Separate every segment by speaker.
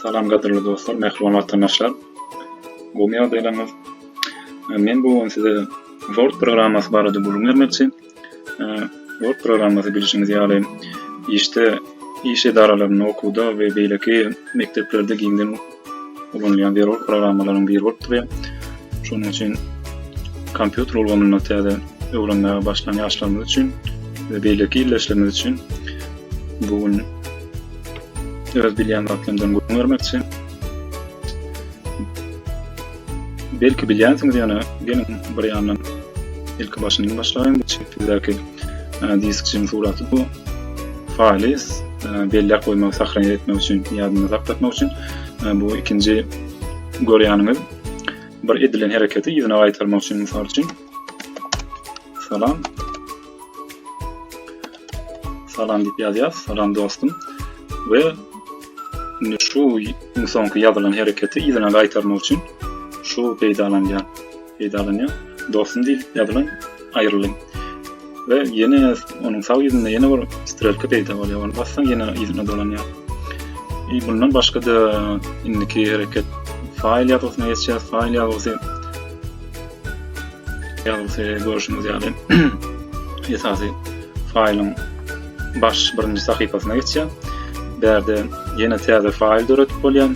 Speaker 1: Salam gadyrly dostlar, mähriban watandaşlar. Gowy ýagdaýlaryňyz? Men bu gün size Word programmasy barada gürrüň bermekçi. Word programmasy bilşiňiz ýaly işde, iş edaralarynda, okuwda we beýleki mekdeplerde giňden ulanylýan zerur programmalaryň biri bolup durýar. Şonuň üçin kompýuter ulgamynda täze öwrenmäge başlan ýaşlarymyz üçin we beýleki ildeşlerimiz üçin bu gün öz bilýän zatlarymyzdan gürrüň bermekçi. Belki bilýänsiňiz ýöne geliň bir ýandan ilki başyndan başlaýyn bu çekdidäki diskçiň suraty bu faýly belläp goýmak sahranýa etmek üçin ýadynda saklatmak üçin bu ikinji görýäniňiz bir edilen hereketi ýerine gaýtarmak üçin mysal üçin salam Salam diýip ýazýas. Salam dostum. We indi şu iň soňky ýazylan hereketi yzyna gaýtarmak üçin şu peýdalanýar. Peýdalanýar. Dostum diýip ýazylan aýrylyň. we ýene onuň sag ýüzünde ýene bir strelka peýda bolýar. Ony bassaň ýene ýüzüne dolanýar. E, bundan başga da indiki hereket faýl ýazgysyna geçýär. Faýl ýazgysy Ýazgysy görşüňiz ýaly, esasy faýlyň baş birinji sahypasyna geçýär. Bärde ýene täze faýl döredip bolýar.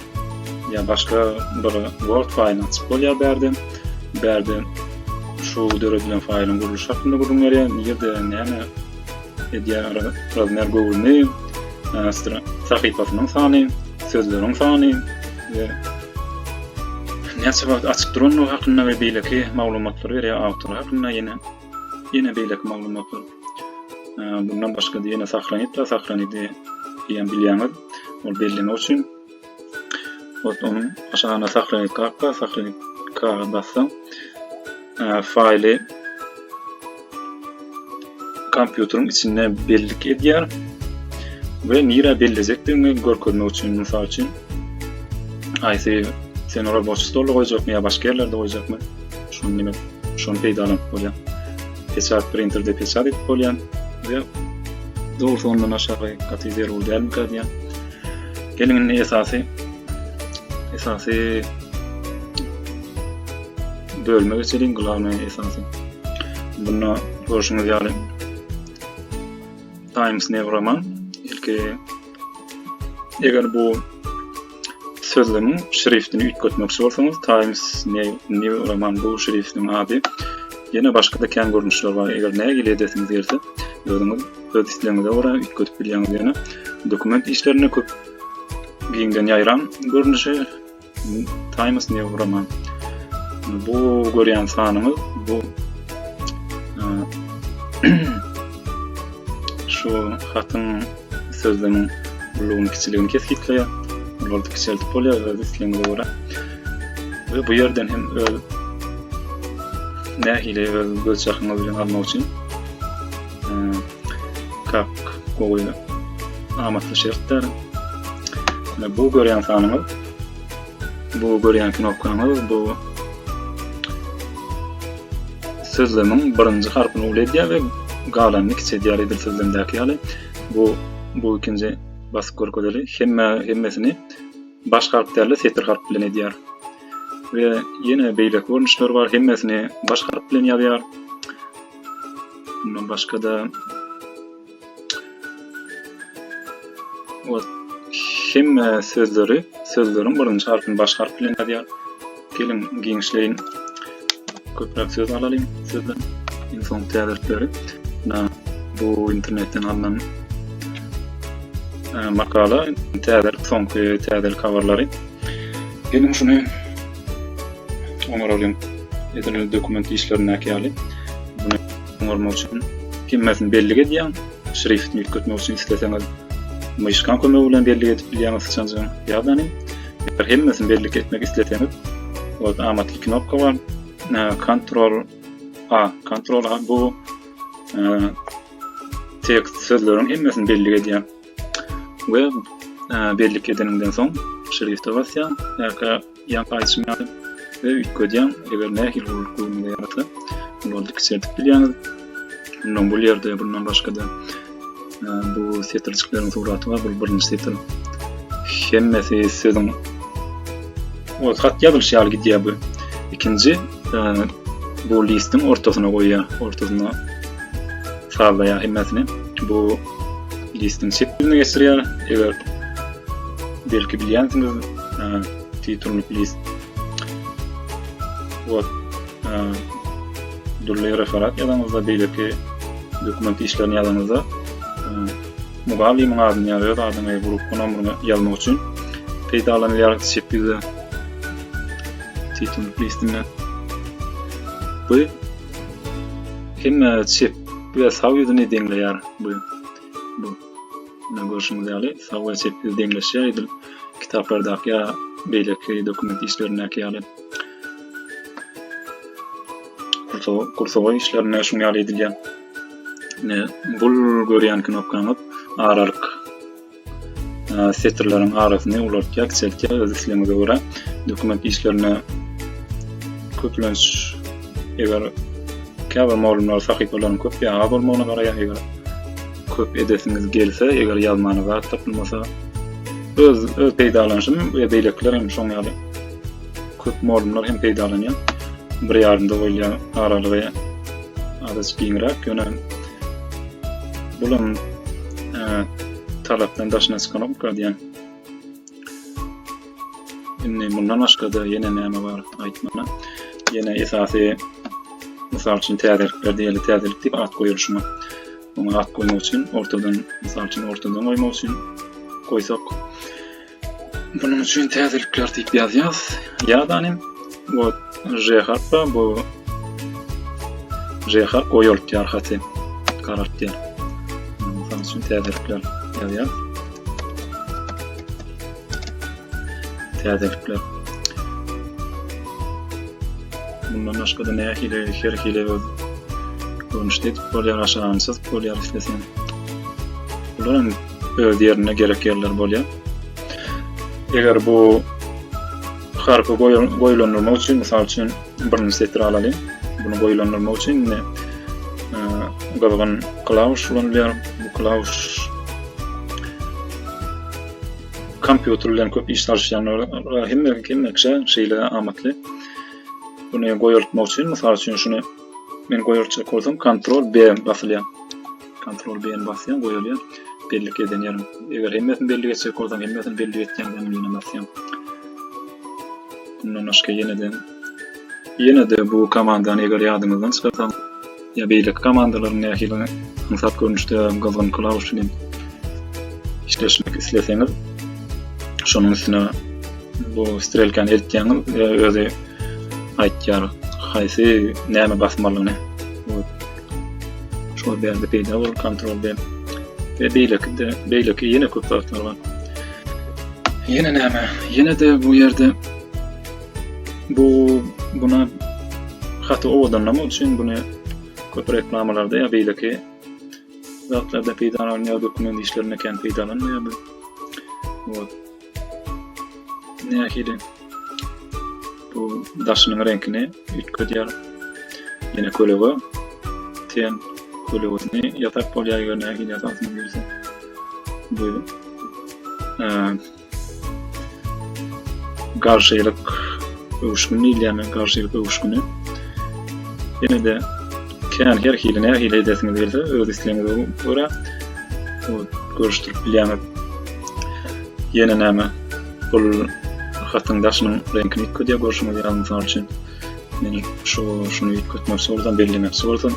Speaker 1: Ýa başga bir Word faýlyny açyp bolýar bärde. Bärde şu döredilen faýlyň gurluşy hakynda gürrüň berýär. Nirde näme Edýär Razmer Gowulny, Astra sahypasynyň sany, sözleriň sany we näçe wagt açyk durandygy hakynda we beýleki maglumatlary berýär awtor hakynda ýene ýene beýleki maglumatlar. Bundan başga-da ýene sahranitda, sahranidi diýen bilýäňiz, ol bellemek üçin Вот onun aşağına saklanit kakka, saklanit kağa bassaň, e, faili kompýuteriň içinde bellik edýär we nira bellejekdigini görkezmek üçin, mysal üçin, aýsy sen ora boş stolda goýjakmy ýa başga ýerlerde goýjakmy? Şuny demek, şuny peýdalanyp bolýar. Peçat printerde peçat edip bolýar we dogrusu ondan aşagy gaty zerur dälmi gadýar. Geliň indi esasy esasy bölüme geçeliň glawna esasy. Bunda görşüňiz ýaly Times New Roman ilki eger bu sözlügiň şriftini üýtgetmekçi bolsaňyz Times New Roman bu şriftiň ady ýene başga-da kän görnüşler bar eger nägile edesiňiz gelse özüňiz öz islegiňize görä üýtgedip bilýäňiz ýöne dokument işlerinde köp giňden ýaýran görnüşi Times New Roman bu görýän sanyňyz bu şu hatyň sözleriniň ulugyny kiçiligini kesgitleýär olary kiçeltip bolýar öz islegiňize görä we bu ýerden hem öz nähili öz göz çakyňyz bilen almak üçin kak gowy amatly şertler. Ine bu görýän sanyňyz, bu görýän knopkaňyz, bu sözlemiň birinji harpyny uly edýär we galanyny kiçeldýär edil sözlemdäki ýaly. Bu bu ikinji basyp görkezeli hemme hemmesini baş harp däl-de setir harp bilen edýär. We ýene beýleki görnüşler bar, hemmesini baş harp bilen ýazýar. Bundan başga-da ot hemme sözleri, sözleriň birinji harpyny baş harp bilen ýazýar. Geliň, giňişleýin. Köpräk söz alalyň sözden. Iň soňky täzelikleri. Bu internetden alnan makala, täzelik, soňky täzelik habarlary. Geliň şuny Oňaralýan edilen dokument işlerindäki ýaly, bunu oňarmak üçin hemmesini bellik edýän, şriftini üýtgetmek üçin isleseňiz, myşkaň kömegi bilen bellik edip bilýäňiz syçanjygyň ýadany. Eger hemmesini bellik etmek isleseňiz, ýerde amatly knopka bar. Ctrl A, Ctrl A bu tekst sözleriň hemmesini bellik edýän. we bellik edeniňden soň şrifte basýaň ýa-da ýa-da aýdyşym ýaly we üýtgedýäň eger nähili gullugy göwnüňize ýarasa olary kiçeldip bilýäňiz ondan bu ýerde bundan başga-da bu setirjikleriň suraty bar bu birinji setir hemmesi sözüň o hat ýazylyş ýaly gidýär bu ikinji bu listiň ortasyna goýýar ortasyna sallaýar hemmesini bu listiň çep ýüzüne geçirýär. Eger belki bilýänsiňiz, titulnik list. Wot, dürli referat ýazanyňyzda, beýleki dokument işlerini ýazanyňyzda, mugallymyň adyny ýa öz adyňy, grup nomerini ýazmak üçin peýdalanylýar çep ýüzde titulnik listinde. Bu hemme çep Bize sag ýüzüni deňleýär bu bu. Mine görşüňiz ýaly sag we çep ýüz deňleşýär edil kitaplardaky ýa beýleki dokument işlerindäki ýaly. Gursowa gursowa işlerinde şuň ýaly edilýär. Mine bul görýän knopkaňyz aralyk. setirleriň arasyny ulaltýar, kiçeltýär öz islegiňize görä. Dokument işlerine köplenç eger käbir mugallymlar sahypalaryň köp ýa az bolmagyna garaýar, eger köp edesiňiz gelse, eger ýazmana zat tapylmasa, öz öz peýdalanyşym we beýlekiler hem şoň ýaly köp mugallymlar hem peýdalanýar. Bir ýarymda bolýar aralygy azajyk giňräk, ýöne Bulam e, talapdan daşyna çykanok diýen. Indi mundan başga-da ýene näme bar aýtmana. Ýene esasy mysal üçin täzelikler diýeli täzelik diýip at goýulşyna. Muňa at goýmak üçin ortadan mysal üçin ortadan goýmak üçin goýsak Bunun üçin täzelikler diýip ýazýas. Ýadanym bu J harpy bu J harp goýulýar haty. Garaltýar. Mysal üçin täzelikler ýazýar. Täzelikler. Bundan başga da nähili her hili görnüşde edip bolýar, aşagyny çyzyp bolýar islesen. Bular öz ýerinde gerek ýerler bolýar. Eger bu harpy goýulandyrmak üçin, mysal üçin, birinji setiri alalyň. Bunu goýulandyrmak üçin indi gyzgyn klawiş ulanylýar. Bu klawiş kompýuter bilen köp iş salşýanlara hemme hemme kişä şeýle amatly. Bunu goýultmak üçin, mysal üçin, şuny men goýultjak bolsam, kontrol B basylýar. Kontrol B-ni basýan goýulýar. Bellik eden ýerim. Eger hemmesini belli geçjek bolsaň, hemmesini belli geçýän hem ýene basýan. Bundan başga ýene-de ýene-de bu komandany eger ýadyňyzdan çykarsaň, ýa beýleki komandalaryň nähili aňsat görnüşde gyzgyn klawiş bilen işleşmek isleseňiz, şonuň üstüne bu strelkany eltýäňiz we özi aýtýar, haýsy näme basmalyny. Şol bende peýda bol kontrol ben. Ve beýleki de beýleki ýene köp zatlar bar. Ýene näme? Ýene de bu ýerde bu buna haty owadanlamak üçin bunu köp reklamalarda ýa beýleki zatlarda peýdalanýar, dokument işlerinde kän peýdalanmaýar. Вот. nähili bu daşynyň reňkini üýtgedýär. Ýene kölege ten kölegesini ýasak bolýar, eger nähili ýasasyny bilse. Bu garşylyk öwüşgini diýilýär, garşylyk öwüşgini. Ýene-de Kän her hili nähili edesiňiz gelse öz islegiňize görä görüşdirip bilýäňiz. Ýene näme? Bul hatyň daşynyň reňkini ýitgidýär görşüňiz ýaly mysal üçin. Men şu şuny ýitgetmekçi bolsam, bellemekçi bolsam,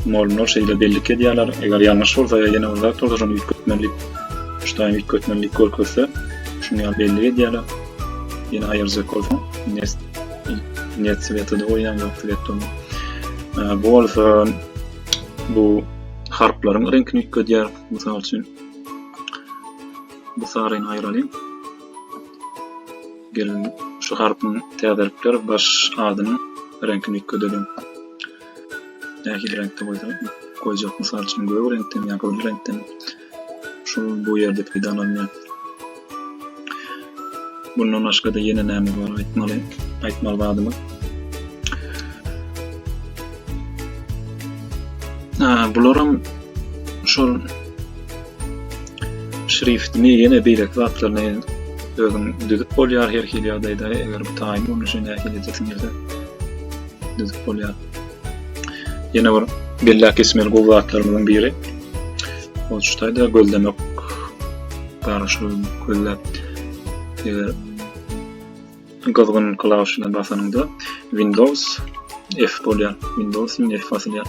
Speaker 1: molynlar şeýle bellik edýärler. Eger ýalňyş bolsa ýa ýene bir zat bolsa şony ýitgetmeli diýip, şuny ýitgetmeli diýip görkezse, şuny ýaly bellik edýärler. Ýene aýyrjak bolsaň, nes Net sweta da goýan ýokdy getdim. Bu bolsa bu harplaryň reňkini üýtgedýär. Mysal üçin bu saryny aýralyň. Gelin şu harpyň täzelikler baş adynyň reňkini üýtgedelim. Nähili reňkde goýsak, goýjak mysal üçin gök reňkden ýa gyzyl reňkden. Şu bu ýerde peýdalanýar. Bundan başga-da ýene näme bar aýtmaly? Aýtmaly zadymyz. Ha, bularam şol şriftini ýene beýleki zatlaryny özüň düzüp bolýar her hili ýagdaýda, eger bu taýyn bolmuşy nähili edesiň gelse düzüp bolýar. Ýene bir belläp geçmeli gowy zatlarymyzyň biri. Ol şu taýda gözlemek barşy gözläp eger gyzgyn klawisyna basanyňda Windows F bolýar. Windows F basylýar.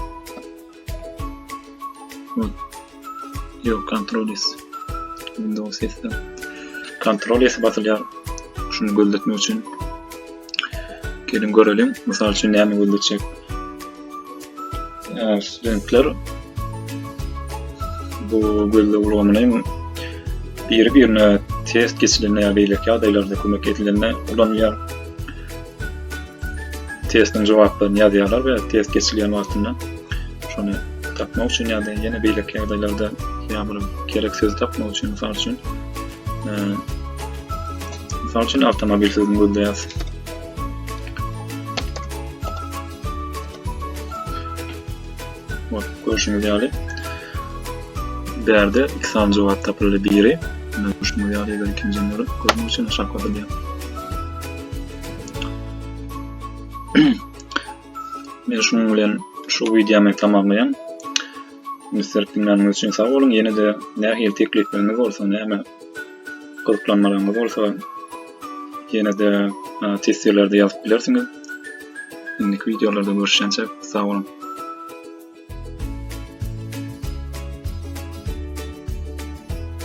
Speaker 1: Yok kontrol es. Windows es. Kontrol es basylýar. Şunu gözletmek üçin. Gelin görelim. Mysal üçin näme gözletjek? Ee, studentler bu gözle ulgamyny biri birine test geçilende ya beýleki ýagdaýlarda kömek edilende ulanýar. testiň jogaplaryny ýazýarlar we test geçilýän wagtynda şony tapmak üçin ýa-da ýene beýleki ýagdaýlarda ýa bir gerek sözi tapmak üçin mysal üçin e, mysal üçin awtomobil sözüni gözleýäs görüşüňiz ýaly bärde iki sany jogap tapyldy biri görüşüňiz ýaly ikinjini görmek üçin aşak basylýar Men şunuň bilen şu wideomy tamamlaýan. Mister Pinganýyň üçin sag boluň. Ýene-de nähili teklipleriniz bolsa, näme gyzyklanmalaryňyz bolsa, ýene-de testirlerde ýazyp bilersiňiz. Indiki wideolarda görüşýänçe sag boluň.